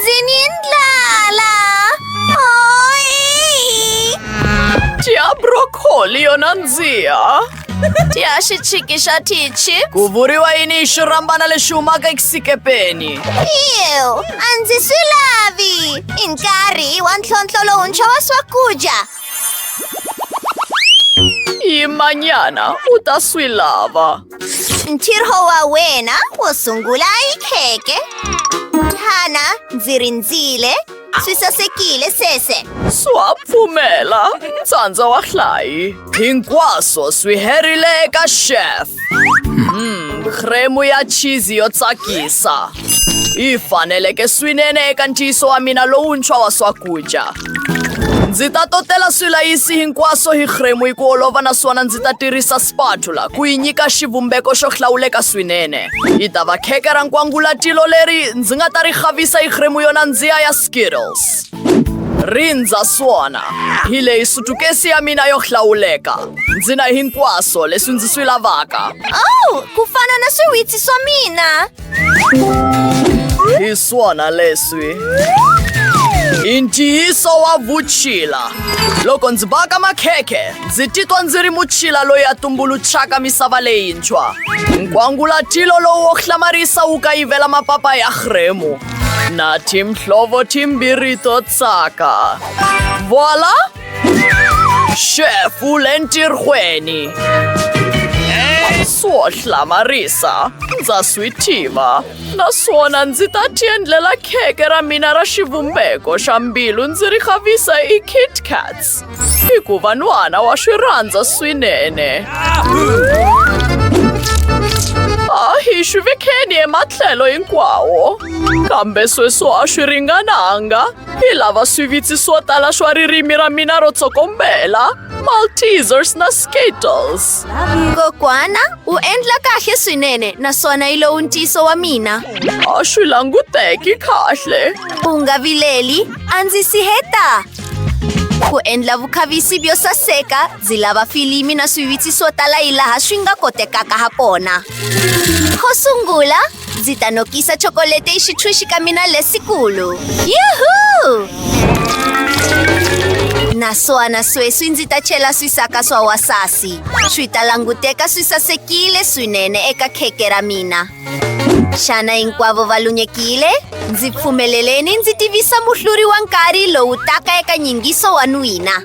Zimiendla la! Oj! Tia broccoli yo nandziha. Tia xichiki xa tichi. Ku vuriwa yini hi xirhambana lexi humaka exikepeni? Ew, a ndzi swi lavi. I nkarhi wa ntlhontlho lowuntshwa wa swakudya. Y mañana utaswi lava. Ntirhowa wena wo sungula i kheke. Hana ndzi rindzile. Swi sasekile sese. Swa pfumela. Tsandza wa hlayi. Hinkwaswo swi herile eka chef. Hmm, creme ya cheese yo tsakisa. Yi faneleke swinene eka ntiyiso wa mina lowuntshwa wa swakudya. Ndzi ta totela swilayisi hinkwaswo hi khremu hi ku olova naswona ndzi ta tirhisa spatula ku yi nyika xivumbeko xo hlawuleka swinene. Yi ta va kheke ra nkwangulatilo leri ndzi nga ta ri xavisa hi khremu yo nandziha ya Skittles. Rindza swona hi leyi sutukesi ya mina yo hlawuleka. Ndzi na hinkwaswo leswi ndzi swi lavaka. Oh, ku fana na swiwitsi swa mina. Hi swona leswi. I ntiyiso wa vutshila. Loko ndzi baka makhekhe, ndzi titwa ndzi ri mutshila loyi a tumbuluxaka misava leyintshwa. Nkwangulatilo lowu wo hlamarisa wu kayivela mapapa ya rhemu na timhlovo timbirhi to tsaka. Voila! Xefu le ntirhweni. Swo hlamarisa, ndza swi tiva. Naswona ndzi ta tiendlela kheke ra mina ra xivumbeko xa mbilu ndzi ri khavisa hi Kit Kats. Hikuva n'wana wa swi rhandza swinene. A hi swi vekeni ematlhelo hinkwawo. Kambe sweswo a swi ringananga. Hi lava swivitsi swo tala swa ririmi ra mina ro tsokombela, Maltesers na Skittles. Kokwana u endla kahle swinene naswona yi lowu ntiyiso wa mina. A swi languteki kahle. U nga vileli, a ndzi si heta. Ku endla vukhavisi byo saseka, ndzi lava filimi na swivitsi swo tala hi laha swi nga kotekaka ha kona. Ko sungula, Ndzi ta nokisa chocolate exitshwixi ka mina lesikulu. Yuhu! Naswona sweswi ndzi ta chela swisaka swa wasasi. Swi ta languteka swi sasekile swinene eka kheke ra mina. Xana hinkwavo va lunyekile? Ndzi pfumeleleni ndzi tivisa muhluri wa nkarhi lowu taka eka nyingiso wa n'wina.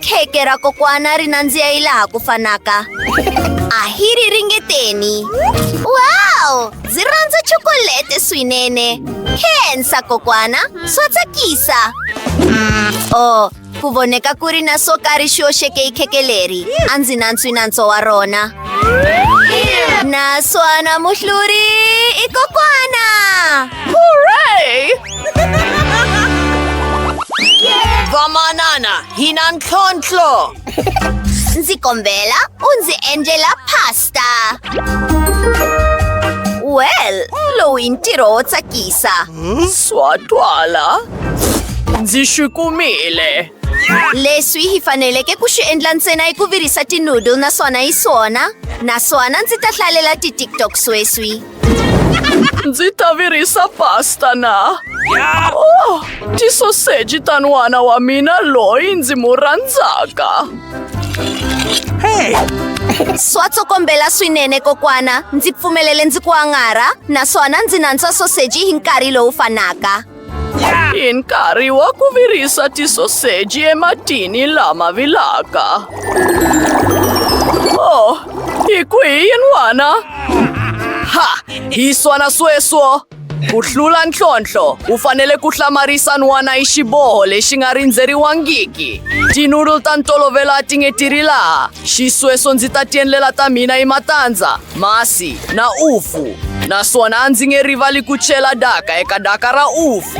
kheke ra kokwana ri nandziha yi laha ku fanaka a hi ri ringeteni wow ndzi rhandza chokolete swinene khensa kokwana swa tsakisa o oh, ku voneka ku ri na swo karhi xi oxeke hi kheke leri a ndzi nantswi nantso wa rona naswona muhluri i kokwana Vamanana, hinan klonchlo. Nzi kombela, unzi angela pasta. Well, lo intiro otsakisa. Swatwala. Ndzi swi kumile. Leswi hi faneleke ku swi endla ntsena hi ku virisa tinoodle naswona hi swona. Naswona ndzi ta hlalela ti-tiktok sweswi. Ndzi ta virisa pasta na. Oh, tisoseji ta n'wana wa mina loyi ndzi mu rhandzaka. Hey! Swa tsokombela swinene kokwana. Ndzi pfumelele ndzi ku angarha naswona ndzi nantswa soseji hi nkarhi lowu fanaka. In nkarhi wa ku virisa tisoseji ematini lama vilaka. Oh, hi ku hi yin'wana? Ha! Hi swana sweswo! Ku hlula ntlhontlho, u fanele ku hlamarisa n'wana hi xiboho lexi nga rindzeriwangiki. Tinudul ta ntolovelo a ti nge ti ri laha. Xisweswo ndzi ta tiendlela ta mina hi matandza, masi na ufu, naswona a ndzi nge rivali ku chela daka eka daka ra ufu.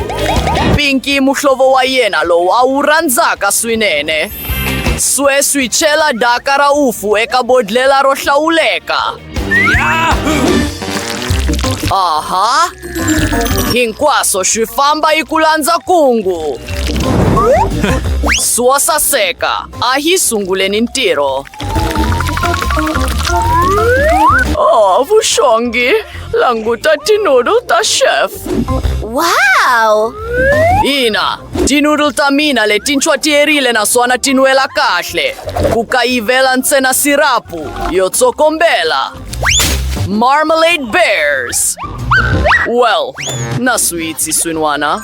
Pinki muhlovo wa yena lowu a wu rhandzaka swinene. Sweswi chela daka ra ufu eka bodlhela ro hlawuleka. Aha! Hinkwaswo swi famba yi ku landza kungu. Swo saseka, a hi sunguleni ntirho. Oh, vuxongi, languta tinoodle ta chef. Wow! Ina, Tinudul ta mina leti nchwatierile naswona ti nwela kahle, ku kayivela ntsena sirapu yo tsokombela. Marmalade Bears. Well, na switsi swin'wana.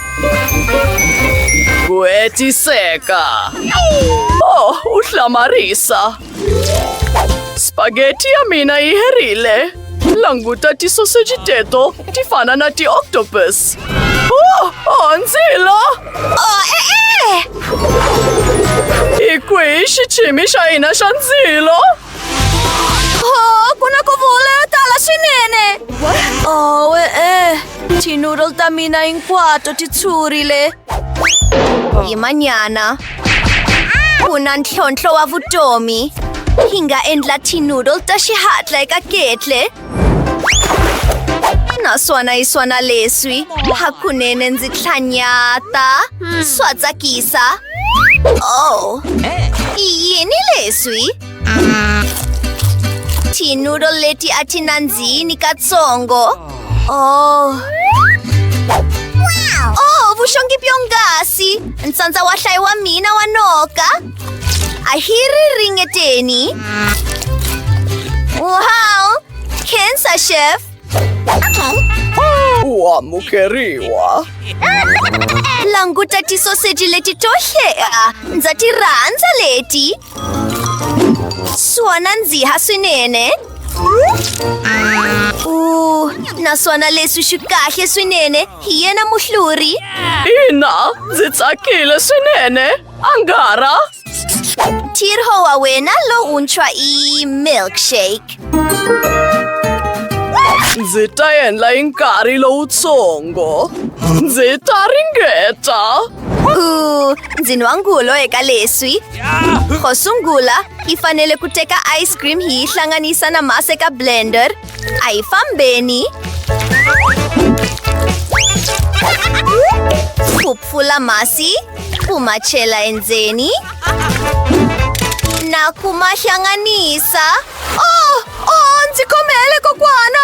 Ku hetiseka. Oh, u hlamarisa. Spaghetti ya mina yi herile. Languta tisoseji teto ti fana na ti-octopus. Oh, oh, ndzilo! Oh, e-e! Hi kwihi xichimi xa hina xa ndzilo? Oh, ku na ku vula yo tala swinene. Oh, e-e. Ti-noodle ta mina hinkwato ti tshurile. Hi manyana. Ku na ntlhontlho wa vutomi. Hi nga endla tinoodle ta xihatla eka ketle. Naswona hi swona leswi. Hakunene ndzi tlhanyata. Swa tsakisa. Oh. Yini leswi? tinuro leti a ti nandzihini katsongo oh oh vuxongi byongasi ntsandza wa hlayi wa mina wa noka a hi ri ringeteni wow cancer chef u amukeriwa languta tisoseji leti to hlea ndza ti rhandza leti Swa nandziha swinene. Uh, naswona leswi swi kahle swinene hi yena muhluri. Ina, ndzi tsakile swinene. Angara. Tirho wa wena lowuntshwa i milkshake. Ndzi ta endla hi nkarhi lowutsongo. Ndzi ta ringeta. Uh, ndzi nwa ngulo eka leswi. Xo sungula, hi fanele ku teka ice cream hi yi hlanganisa na masi eka blender. A hi fambeni. Ku pfula masi, ku ma chela endzeni na ku ma hlanganisa. Oh, oh, ndzi khomele kokwana!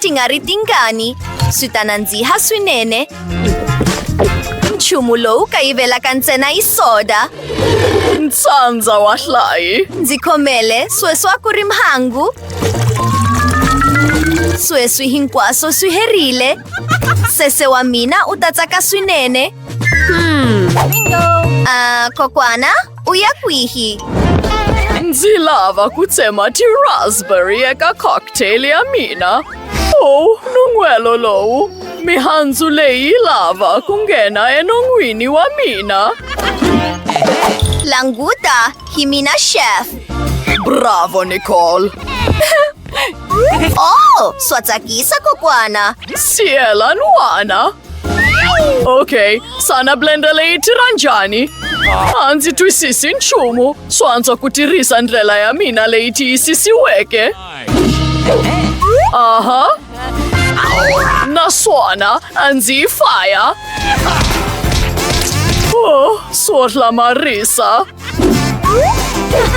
Tingari tingani, swi ta nandziha swinene. Nchumu lowu kayivelaka ntsena yi soda. Ntsandza wa hlayi. Ndzi khomele sweswa ku ri mhangu. Sweswi hinkwaswo swi herile. Sese wa mina u ta tsaka swinene. Hmm. Bingo! Uh, kokwana? Uya kwihi? Ndzi lava ku tsema ti-raspberry eka cocktail ya mina. Oh, nun'hwelo lowu. Mihandzu leyi yi lava ku nghena enon'wini wa mina. Languta, hi mina chef. Bravo, Nicole. Oh, swa tsakisa kokwana. Siyela n'wana. Ok, sana blender leyi tirha njhani? A ndzi twisisi nchumu. Swo antswa ku tirhisa ndlela ya mina leyi tiyisisiweke. Aha. Naswona a ndzi yi faya. Oh, swo hlamarisa.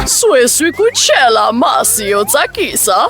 Sweswi ku chela masi yo tsakisa.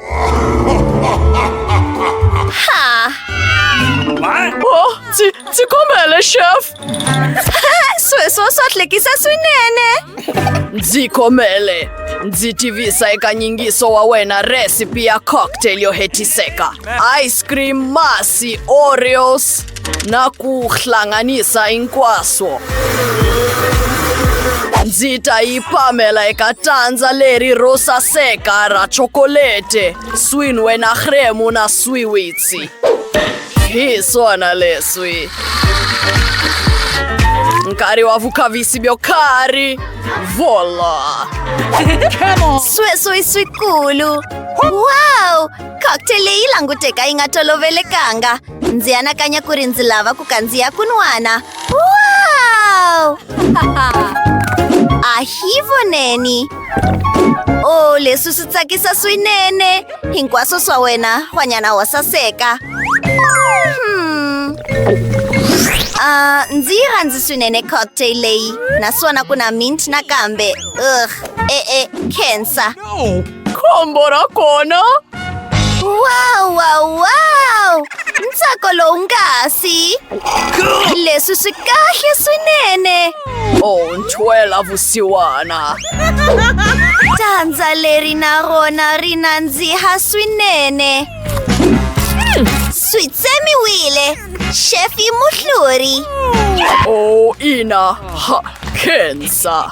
kuhlekisa swinene ndzi khomele ndzi tivisa eka nyingiso wa wena recipe ya cocktail yo hetiseka ice cream masi oreos nakuhlanganisa hinkwaswo ndzi ta yi pamela eka tandza leri ro saseka ra chokolete swinwe na hremu na swiwitsi hi swona leswi nkarhi wa vukhavisi byo karhi vola sweswo i swikulu wow cocktail leyi languteka yi nga tolovelekanga ndzi anakanya ku ri ndzi lava ku kandziya kunwana wow a hi voneni o oh, leswi swi tsakisa swinene hinkwaswo swa wena hwanyana wa saseka hmm. Uh, ndzi yi rhandzi swinene cocktail leyi naswona ku na mint nakambe ugh e-e cancer Khombo ra kona! Wow, wow, wow! Ntsako lowungasi! Leswi swi kahle swinene! Oh, ntshwela vusiwana! Dyandza leri na rona ri nandziha swinene! Swi tsemiwile! Xefi muhluri! Oh, ina! Ha, khensa!